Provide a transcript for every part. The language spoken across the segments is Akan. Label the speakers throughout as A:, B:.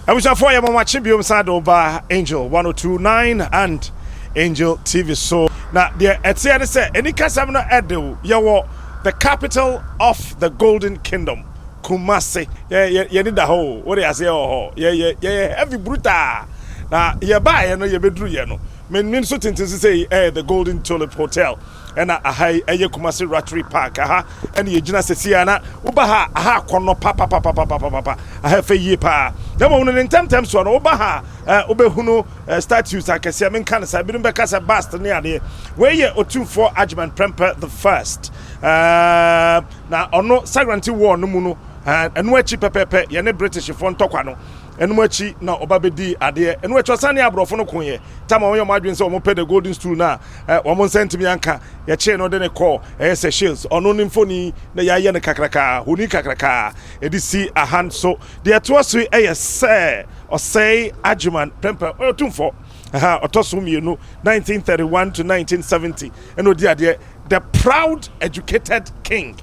A: Abusuafoɔ yɛma mo akye biom san de wo ba Angel 1029 and Angel TV so na deɛ ɛteɛ ne sɛ anikasɛm no ɛde wo yɛwɔ the capital of the golden kingdom Kumasi yɛ yɛ yɛni da hɔ o wode aseɛ wɔ hɔ yɛ yɛ yɛyɛ heavy brutal na yɛbaeɛ no yɛbɛduru yɛ no Me nim so tenten sesei ɛyɛ the golden tulip hotel ɛna aha yi ɛyɛ Kumasi Ratri park aha ɛna yɛgyina sesei a na woba ha a aha akɔnnɔ papapapapapapa aha ɛfɛ yie paa na mmom no ne ntɛmntɛm soɔ no woba ha a eh, wobɛhunu eh, statues akɛseɛ menka no saa binom bɛka sɛ bust ne adeɛ wei yɛ otumfoɔ Agyeman Prempeh the first eh, na ɔno Sagrante wall no mu no eh, ɛno akyi pɛpɛpɛ yɛne Britishfoɔ ntɔkwa no Ɛnom akyi na ɔba bɛdii adeɛ. Ɛno akyi ɔsan ne aborɔfo no koeɛ. Tamar wɔyɛ wɔn adwene sɛ wɔpɛ the golden stool no a wɔn nsa ntumi anka. Yɛkyee no de no kɔɔ ɛyɛ Seychelles. Ɔno ne mfoni na yɛayɛ no kakrakaa, honi kakrakaa. Ɛde si ahan so. Deɛ ɛtoa so yi yɛ sɛ ɔsɛe Adjiman Prempeh, ɔyɛ ɔtumfoɔ. Ɛha ɔtɔ so mmienu, 1931 to 1970, ɛna ɔdi adeɛ. The proud educated king.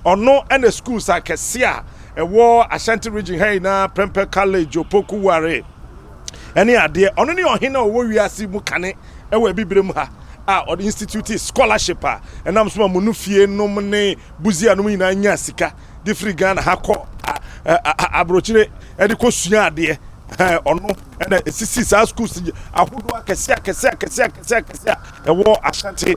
A: Ɔno ɛna schools akɛse a ɛwɔ Ashanti region ha nyinaa, Prempeh College, Opoku Ware, ɛne adeɛ. Ɔno ne ɔhene a ɔwɔ wiase mu kane ɛwɔ abibire mu ha a ɔde institute scholarship a ɛnam so ma Munufie nom ne Busia nom nyinaa nya sika. de firi ghana ha kɔ aburokyire de kɔ sua adeɛ ɔno ɛna esisi saa schools ahodoɔ akɛse akɛse akɛse akɛse akɛse a ɛwɔ ashanti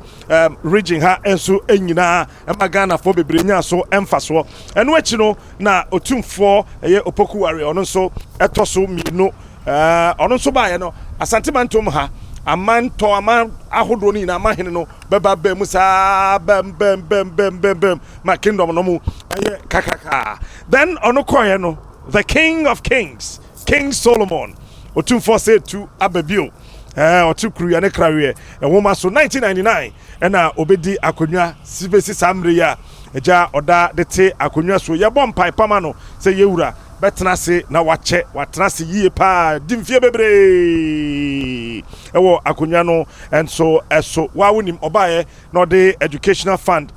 A: region ha nso nyinaa ɛma ghanafoɔ bebree nya so mfasoɔ ɛno akyi no na otumfoɔ ɛyɛ opoku ware ɔno nso ɛtɔ so mmienu ɔno nso baayɛ no asante mantom ha amantɔ aman ahodoɔ no nyinaa amahene no bɛba bɛn mu saa bɛm bɛm bɛm bɛm bɛm bɛm ma kingdom no mu ɛyɛ kakaka then ɔno kɔɛ no the king of kings king solomon ɔtumfoɔ sɛ tu aba bio ɛɛ ɔte kuru yɛ ne kraweɛ ɛwoma so 1999 ɛna ɔbɛdi akonnwa si bɛsi saa mmerɛ yi a agya ɔda de te akonnwa so yɛbɔ mpae pama no sɛ yɛwura bɛtena ase na wakyɛ watena ase yie paa di mfie bebree ɛwɔ akonnwa no Nso ɛso waa wonim ɔbaeɛ na ɔde educational fund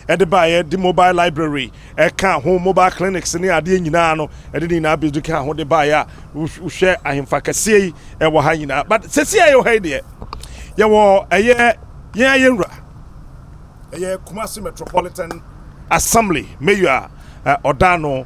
A: ɛde baeɛ de mobile library ɛka ho mobile clinics ne adeɛ nyinaa no ɛde ne nyinaa bɛdi ka ho de baeɛ a wohwɛ ahemfa kɛseɛ yi ɛwɔ ha nyinaa but sɛsi a yɛwɔ ha yi deɛ yɛwɔ ɛyɛ yɛn ayɛ nwura ɛyɛ Kumasi Metropolitan Assembly mayor a ɔda no